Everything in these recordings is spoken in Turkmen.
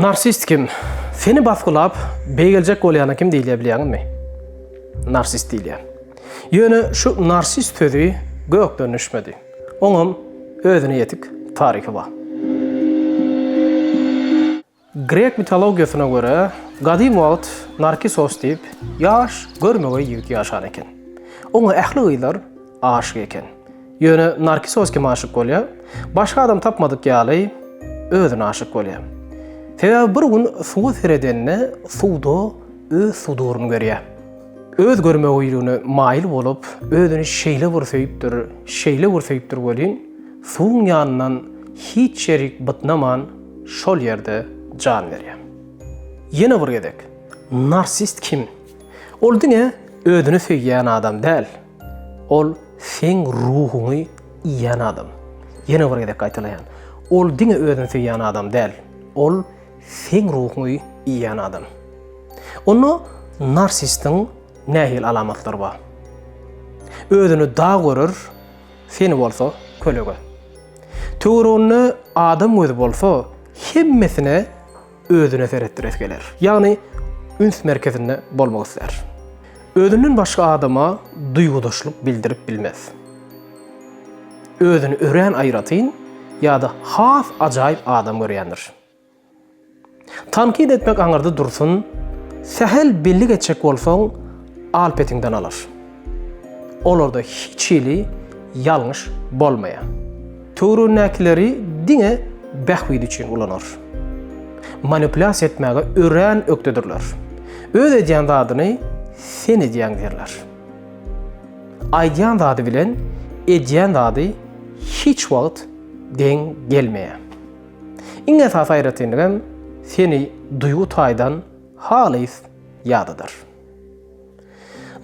Narsist kim? Seni basgylap, beýgeljek bolýana kim diýilýär bilýäňizmi? Narsist diýilýär. Ýöne şu narsist sözi gökden düşmedi. Oňam özüne ýetik taryhy bar. Grek mitologiýasyna görä, gadym wagt Narkisos diýip ýaş, görmegeý ýigit ýaşan eken. Oňa ähli gyzlar aşyk eken. Ýöne Narkisos kime aşyk bolýa? Başga adam tapmadyk ýaly, özüne aşyk bolýa. Sebäbi bir gün suwa seredenine suwda öz suduryny görýär. Öz görmegeýligine maýyl bolup, özüni şeýle bir söýüpdir, şeýle bir söýüpdir welin, suwuň ýanyndan hiç ýerik bytnaman, şol ýerde jan berýär. Ýene bir gezek, narsist kim? Ol diňe özüni söýýän adam däl, ol seň ruhuňy iýen adam. Ýene bir gezek gaýtalaýan, ol diňe özüni söýýän adam däl, ol Seň ruhuňy iýýän adam. Onda narsistiň nähili alamatlary bar? Özüni dag görer, seni bolsa kölege. Töwereginde adam gözi bolsa, hemmesine özüne seretdiresi geler. Ýagny üns merkezinde bolmak islär. Özünden başga adama duýgudaşlyk bildirip bilmez. Özüni örän aýratyn ýa-da has ajaýyp adam görýändir. Tankyt etmek aňyrda dursun, sähel bellik etjek bolsaň, al petiňden alyş. Olarda hiç hili ýalňyş bolmaýar. Töweregindäkileri diňe bähbidi üçin ulanar. Manipulýasiýa etmäge örän ökdedirler. Öz edýän zadyny sen edýäň diýerler. Aýdýan zady bilen edýän zady hiç wagt deň gelmeýär. Iň esasy aýratynlygam seni duýgy taýdan halys ýadadar.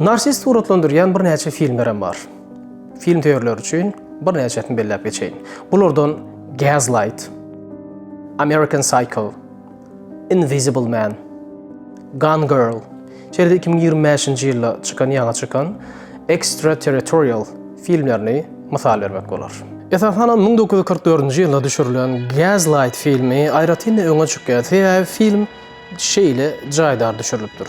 Narsist suratlandyrýan birnäçe filmlerem bar. Film söýerler üçin birnäçesini belläp geçeýin. Bulardan Gaslight, American Psycho, Invisible Man, Gone Girl, şeýle-de iki müň ýigrimi bäşinji ýylda çykan ýaňy çykan Extraterritorial filmlerini mysal bermek bolar. Esasanam müň dokuz ýüz kyrk dördünji ýylda düşürilen Gaslight filmi aýratyn-da öňe çykýar, sebäbi film şeýle jaýdar düşürilipdir.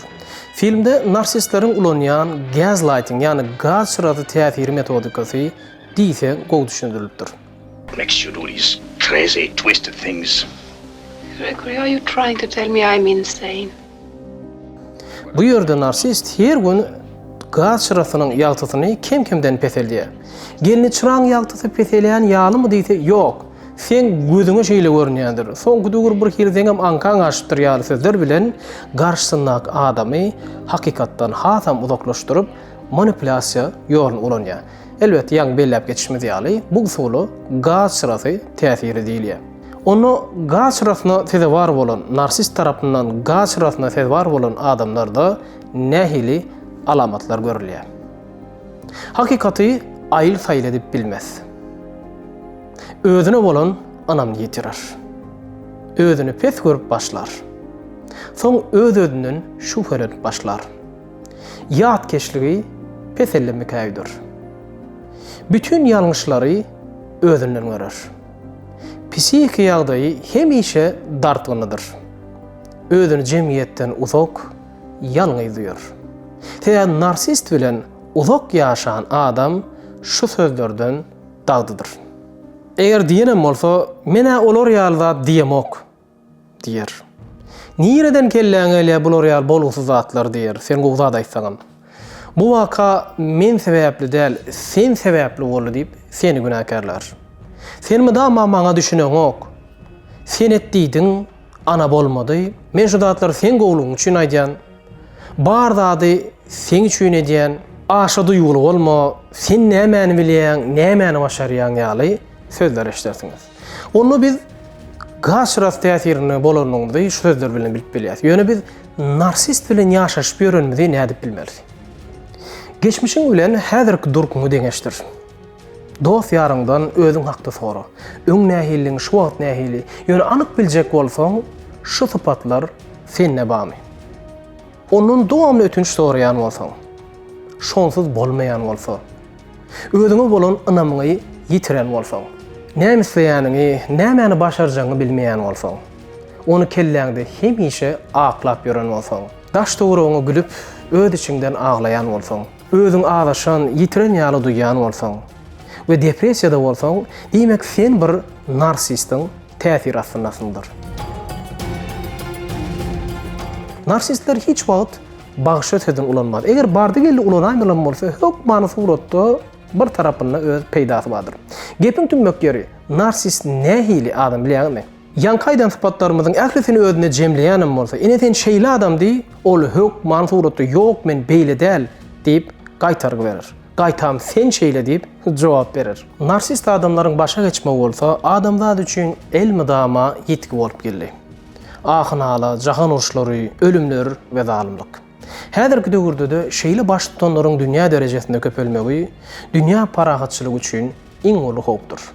Filmde narsistleriň ulanýan gaslighting, ýagny gaz çyrasy täsiri metodikasy diýseň gowy düşündirilipdir. Makes you do these crazy twisted things. Gregory are you trying to tell me I'm insane? Bu ýerde narsist her gün gaz çyrasynyň ýagtysyny kem-kemden peseldýär. Gelni çyraň ýagtysy peselýän ýalymy diýse, ýok. Seň gözüňe şeýle görünýändir. Soňky döwür bir hili seňem aňkaň açypdyr ýaly sözler bilen garşysyndaky adamy hakykatdan hasam uzaklaşdyryp, manipulýasiýa ýoluny ulanýar. Elbet, ýaňy belläp geçişimiz ýaly, bu usula gaz çyrasy täsiri diýilýär. Onda gaz çyrasyna sezewar bolan, narsist tarapyndan gaz çyrasyna sezewar bolan adamlarda nähili alamatlar görülýär? Hakykaty aýyl-saýyl edip bilmez. Özüne bolan ynamyny ýitirer. Özüni pes görüp başlar. Soň öz-özünden şübhelenip başlar. Ýatkeşligi peselli mikäýüdir. Bütin ýalňyşlary özünden görer. Psihiki ýagdaýy hemişe dartgynlydyr. Özüni jemgyýetden uzak, ýalňyz duýar. Sebäbi narsist bilen uzak ýaşan adam şu sözlerden dagdydyr. Eger diýenem bolsa, men-ä olar ýaly zat diýemok. Diýer. Nireden kelläňe gelýär bular ýaly bolgusyz zatlar diýer, sen gowy zat aýtsaňam. Bu waka men sebäpli däl, sen sebäpli boldy diýip, seni günäkärlär. Sen mydama maňa düşüneňok. Sen et diýdiň, ana bolmady. Men şu zatlary seň gowulygyň üçin aýdýan. Bar zady seň üçin edýän. Aşa duýguly bolma, sen nämäni bilýäň, nämäni başarýaň ýaly sözler eşidersiňiz. Onda biz Gaşras täsirinde bolanymyzy şu sözler bilen bilip bilýäris. Ýöne biz narsist bilen ýaşaşyp ýörenimizi nädip bilmeris? Geçmişiň bilen häzirki durkuňy deňeşdir. Dost-ýaryňdan özüň hakda sora. Öň nähilidiň, şu wagt nähili? Ýöne anyk biljek bolsaň, şu sypatlar sende barmy? Ondan dowamly ötünç soraýan bolsaň, şonsuz bolmaýan bolsa, Özüňe bolan ynamyňy ýitiren bolsaň, näme isleýäniňi, nämäni başarjagyňy bilmeýän bolsaň, ony kelläňde hemişe aklap ýören bolsaň, daş-töweregiňe gülüp, öz içiňden aglaýan bolsaň, özüňi azaşan, ýitiren ýaly duýýan bolsaň we depressiýada bolsaň, diýmek, sen bir narsistiň täsiri astyndasyňdyr. Narsistler hiç wagt Bagşa sözüň ulanmaz. Eger bardy-geldi ulanaýmalam bolsa, hökmany suratda bir tarapynda öz peýdasy bardyr. Gepiň tümmek ýeri, narsist nähili adam bilýäňizmi? Ýaňky aýdan sypatlarymyzyň ählisini özünde jemleýänem bolsa, ine sen şeýle adam diý, ol hökmany suratda ýok men beýle däl diýip gaýtargy berer. Gaýtam sen şeýle diýip jogap berer. Narsist adamlaryň başa geçmegi bolsa adamzat üçin elmydama ýitgi bolup geldi. ahy-nala, jahan uruşlary, ölümler we zalymlyk. Häzirki döwürde-de şeýle baştutanlaryň dünýä derejesinde köpelmegi dünýä parahatçylygy üçin iň uly howpdur.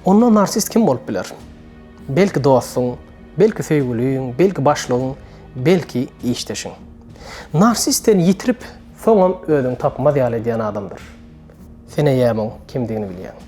Onda narsist kim bolup biler? Belki dostuň, belki söýgüliň, belki başlygyň, belki işdeşiň. Narsist seni ýitirip, soňam özüňi tapmaz ýaly edýän adamdyr. Sen eýäm oň kimdigini bilýäň.